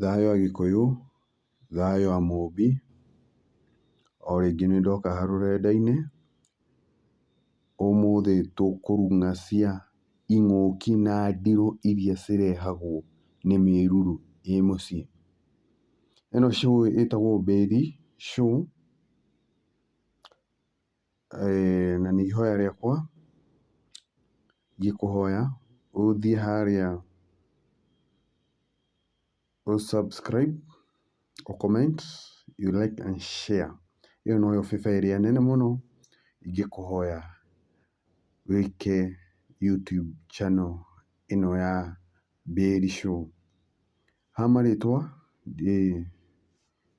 Thayũ ya gĩkũyũ, thayũ ya mũmbi, o rĩngĩ nĩ ndoka haha rũrenda-inĩ, ũmũthĩ tũkũrung'a cia ing'ũki na ndirũ iria cirehagwo nĩ mĩruru ĩ mũciĩ. Ĩno show ĩtagwo Mbĩri show. na nĩ ihoya rĩakwa ingĩkũhoya ũthiĩ harĩa ũ subscribe, ũ comment, ũ like and share. Ĩyo noyo bĩbĩa ĩrĩa nene mũno ingĩkũhoya wĩke YouTube channel ĩno ya Mbaĩri Show. Ha marĩtwa ndĩ...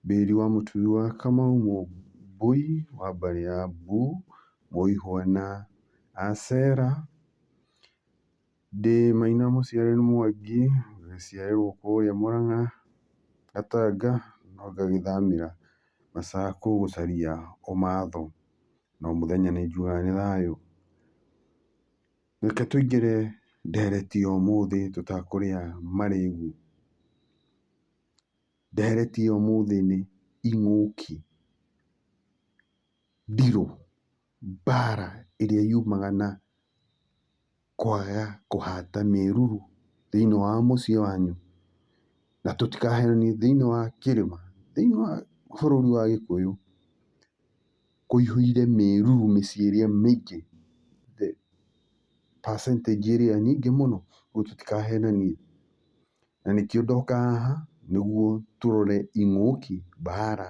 Bĩri wa mũtumia wa Kamau, Mũmbũi wa mbarĩ ya Mbu, Mũihwa na Asera, Ndĩ Maina mũciare nĩ Mwangi, ngĩciarĩrwo kũrĩa Mũrang'a, Gatanga no ngagĩthamĩra Macakũ gũcaria ũmatho, na o mũthenya nĩ njugaga nĩ thayũ. Reke tũingĩre ndereti ũmũthĩ tũtakũrĩa marĩgu. Ndeheretie ũmũthĩ nĩ ing'ũki, ndirũ, mbara ĩrĩa yumaga na kwaga kũhata mĩruru thĩiniĩ wa mũciĩ wanyu. Na tũtikahenanie thĩiniĩ wa kĩrĩma, thĩiniĩ wa bũrũri wa Gĩkũyũ, kũihũire mĩruru mĩciĩ ĩrĩa mĩingĩ, the percentage ĩrĩa nyingĩ mũno, ũguo tũtikahenanie. Na nĩkĩo ndoka haha nĩguo tũrore ing'ũki, mbara,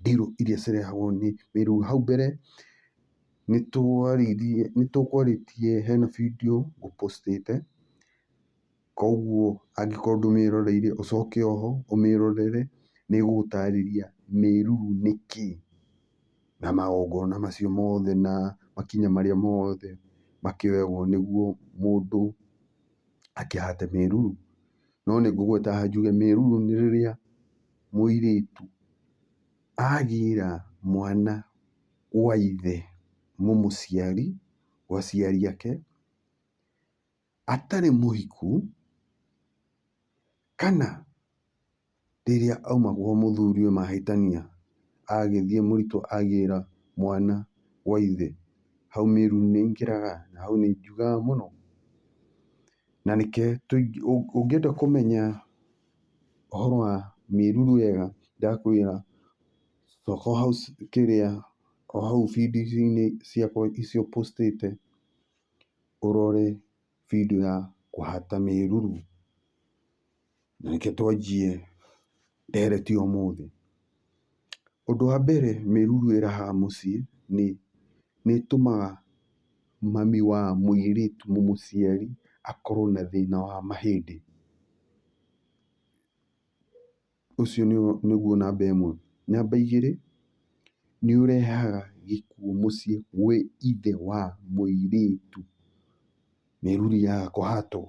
ndirũ iria cirehagwo nĩ mĩrimũ. Hau mbere nĩ twaririe, nĩ tũkwarĩtie hena bindiũ ngũ post ĩte, koguo angĩkorwo ndũmĩroreire ũcoke oho ũmĩrorere, nĩ ĩgũgũtarĩria mĩruru nĩ kĩ, na magongona macio mothe na makinya marĩa mothe makĩoyagwo nĩguo mũndũ. akĩhate mĩruru. No nĩ ngũgweta njuge mĩruru nĩ rĩrĩa mũirĩtu agĩra mwana gwa ithe mũmũciari, gwa aciari ake, atarĩ mũhiku, kana. rĩrĩa auma gwa mũthuri ũyũ mahĩtania, agĩthiĩ mũritũ agĩra mwana gwa ithe, hau mĩri nĩ ĩingĩraga, na hau nĩ ĩnjugaga mũno. Na reke ũngĩenda kũmenya ũhoro wa mĩruru wega, ndakwĩra coka o hau kĩrĩa, o hau bindiũ-inĩ ciakwa icio post ĩte, ũrore bindiũ ya kũhata mĩruru. Na nĩkĩo twanjie ndereti ũmũthĩ. Ũndũ wa mbere mĩruru ĩrahaha mũciĩ nĩ, nĩ ĩtũmaga mami wa mũirĩtu mũciari akorwo na thĩna wa mahĩndĩ. Ũcio nĩguo namba ĩmwe. Namba igĩrĩ, nĩ ũrehaga gĩkuũ mũciĩ gwĩ ithe wa mũirĩtu, mĩruru yaga kũhatwo.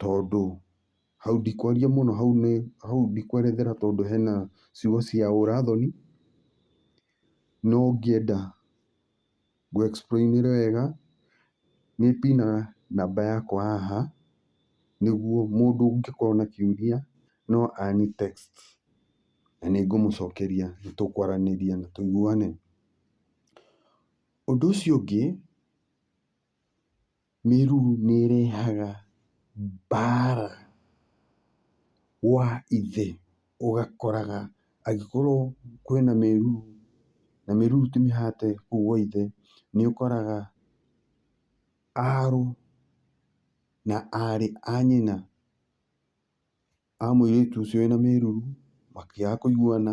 tondũ hau ndikwaria mũno hau nĩ, hau ndikwerethera tondũ hena ciugo cia ũra thoni, no ngĩenda ngũ explain ĩre wega, nĩ pinaga namba yakwa haha, nĩguo mũndũ ũngĩkorwo na kĩũria no anĩ text na nĩ ngũmũcokeria na tũkwaranĩria na tũiguane. Ũndũ ũcio ũngĩ. Mĩruru nĩ ĩrehaga mbara gwa ithe ũgakoraga angĩkorwo kwĩna mĩruru na mĩruru ti mĩhate kũu gwa ithe, nĩ ũkoraga arũ na arĩ a nyina. a mũirĩtu ũcio wĩna mĩruru makĩaga kũiguana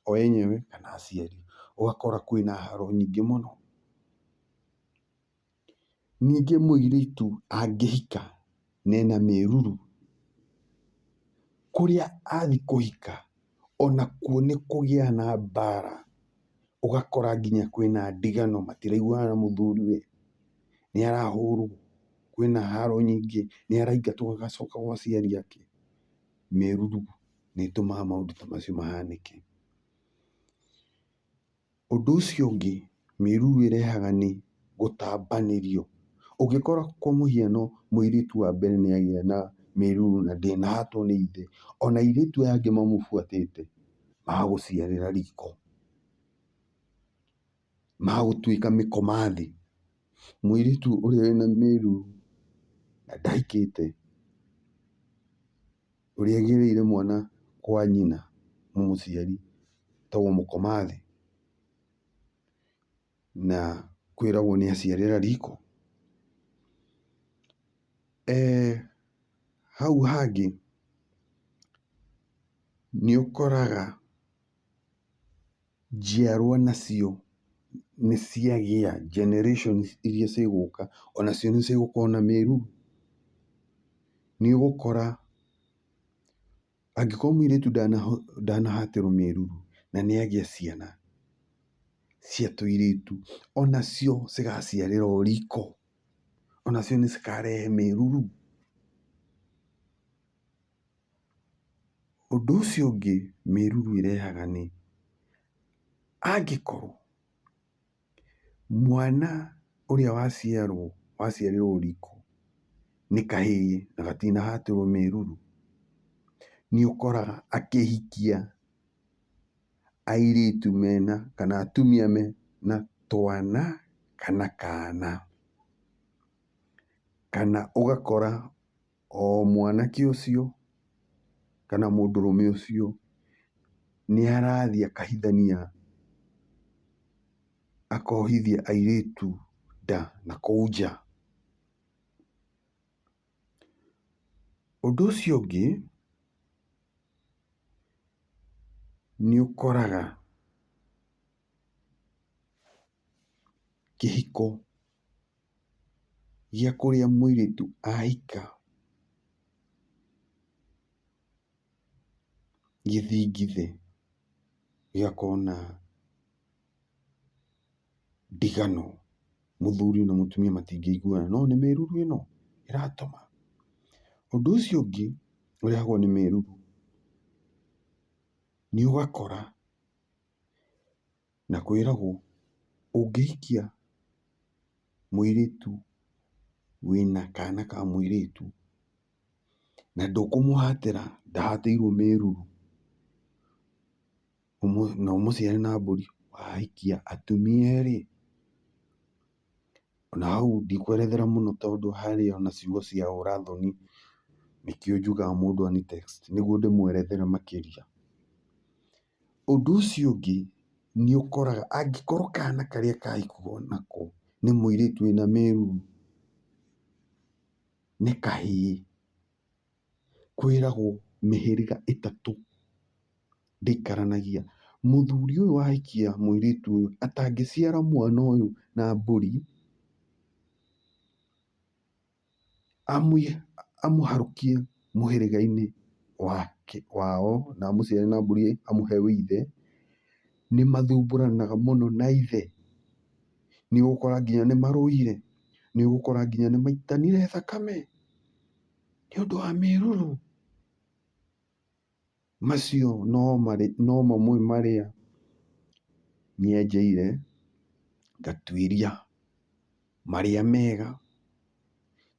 o enyewe kana aciari, ũgakora kwĩna haro nyingĩ mũno. Ningĩ mũirĩtu angĩhika na ena mĩruru, kũrĩa athiĩ kũhika onakuo nĩ kũgĩa na mbara, ũgakora nginya kwĩna ndigano matiraiguana na mũthuriwe, nĩ arahũrwo, kwĩna haro nyingĩ, nĩ araingatwo agacoka gwa aciari ake. Mĩruru nĩ ĩtũmaga maũndũ ta macio mahanĩke. Ũndũ ũcio ũngĩ mĩruru ĩrehaga nĩ gũtambanĩrio. Ũngĩkora kwa mũhiano mũirĩtu wa mbere nĩ agĩa na mĩruru na ndĩnahatwo nĩ ithe, ona airĩtu aya angĩ mamũbuatĩte magũciarĩra riko. magũtuĩka mĩkoma thĩ. Mũirĩtu ũrĩa wĩna mĩrũ na ndahikĩte, ũrĩa agĩrĩire mwana kwa nyina mũmũciari etagwo mũkoma thĩ, na kwĩragwo nĩ aciarĩra riko. Hau hangĩ nĩũkoraga. njiarwa nacio nĩ ciagĩa generations iria cigũka onacio nĩ cigũkorwo na mĩruu? Nĩ ũgũkora angĩkorwo mũirĩtu ndanahatĩrwo mĩruu na nĩ agĩa ciana cia tũirĩtu onacio cigaciarĩra o riko onacio nĩ cikarehe mĩruru? Ũndũ ũcio ũngĩ mĩruru ĩrehaga nĩ, angĩkorwo mwana ũrĩa waciarwo waciarĩrwo ũritũ nĩ kahĩĩ na gatinahatĩrwo mĩruru, nĩ ũkoraga akĩhikia airĩtu mena kana atumia mena twana kana kana. Kana ũgakora. o mwanake ũcio kana mũndũrũme ũcio nĩ arathiĩ akahithania, akohithia airĩtu nda na kũu nja. Ũndũ ũcio ũngĩ, nĩ ũkoraga... kĩhiko gĩa kũrĩa mũirĩtu ahika gĩthingithĩ gĩgakorwo na ndigano, mũthuri na mũtumia matingĩiguana, no nĩ mĩruru ĩno ĩratũma. Ũndũ ũcio ũngĩ ũrehagwo nĩ mĩruru nĩ ũgakora Na kwĩragwo ũngĩhikia mũirĩtu wĩna kana ka mũirĩtu na ndũkũmũhatĩra ndahatĩirwo mĩruru, na ũmũciare na mbũri, wahikia atumia erĩ, na hau ndikwerethera mũno tondũ harĩ ona ciugo cia ũra thoni, nĩkĩo njugaga mũndũ anitext nĩguo ndĩmwerethere makĩria. Ũndũ ũcio ũngĩ nĩ ũkoraga angĩkorwo kana karĩa kahikirwo nako nĩ mũirĩtu wĩna mĩruru, nĩ kahĩĩ, kwĩragwo mĩhĩrĩga ĩtatũ ndĩikaranagia. Mũthuri ũyũ wahikia mũirĩtu ũyũ atangĩciara mwana ũyũ na mbũri. amũharũkie mũhĩrĩga-inĩ wao na amũciare na mbũri amũhe wĩ ithe, nĩ mathumbũranaga mũno na ithe. Nĩ ũgũkora nginya nĩ marũire, nĩ ũgũkora nginya nĩ maitanire thakame nĩ ũndũ wa mĩrũrũ. Macio no mamwe marĩa nyenjeire ngatuĩria marĩa mega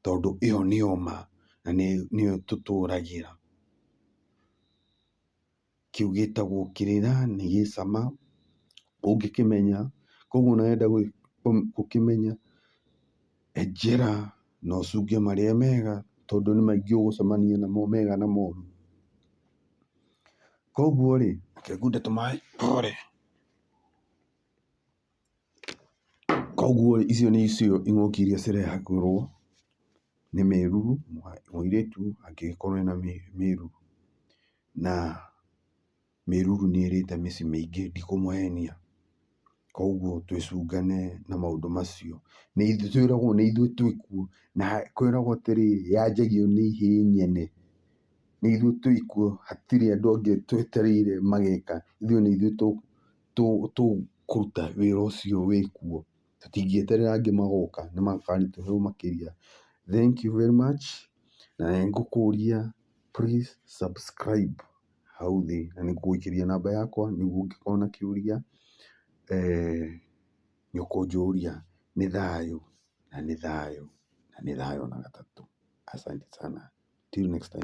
tondũ ĩyo nĩyo ma na nĩyo tũtũragĩra. Kĩu gĩtagwo kĩrĩra nĩ gĩ cama ũngĩkĩmenya. Koguo ona wenda gũkĩmenya... Njĩra na ũcunge marĩa mega tondũ nĩ maingĩ ũgũcemania namo mega na moru. Koguo rĩ, reke ngunde tũmaĩ hore. Koguo rĩ, icio nĩ icigo ing'ũki iria cirehagĩrwo nĩ mĩruru, mũirĩtu angĩgĩkorwo ena mĩruru na... mĩruru nĩ ĩrĩte mĩciĩ mĩingĩ ndikũmũhenia. Koguo twĩcungane na maũndũ macio. Twĩragwo nĩ ithuĩ twĩ kuo na kwĩragwo atĩrĩ, yanjagio nĩ ihĩ nyene. Nĩ ithuĩ twĩ kuo hatirĩ andũ angĩ twetereire mageka, ithuĩ nĩ ithuĩ tũkũruta wĩra ũcio wĩ kuo. Tũtingĩeterera angĩ magoka nĩ makarutĩrwo wĩra makĩria. Thengiũ very much na nĩ ngũkũria please subscribe. hau thĩ, na nĩ ngũgũikĩria namba yakwa nĩguo ũngĩkorwo na kĩũria nĩ ũkũnjũria. Nĩ thayũ na nĩ thayũ na nĩ thayũ ona gatatũ. Asante sana, till next time.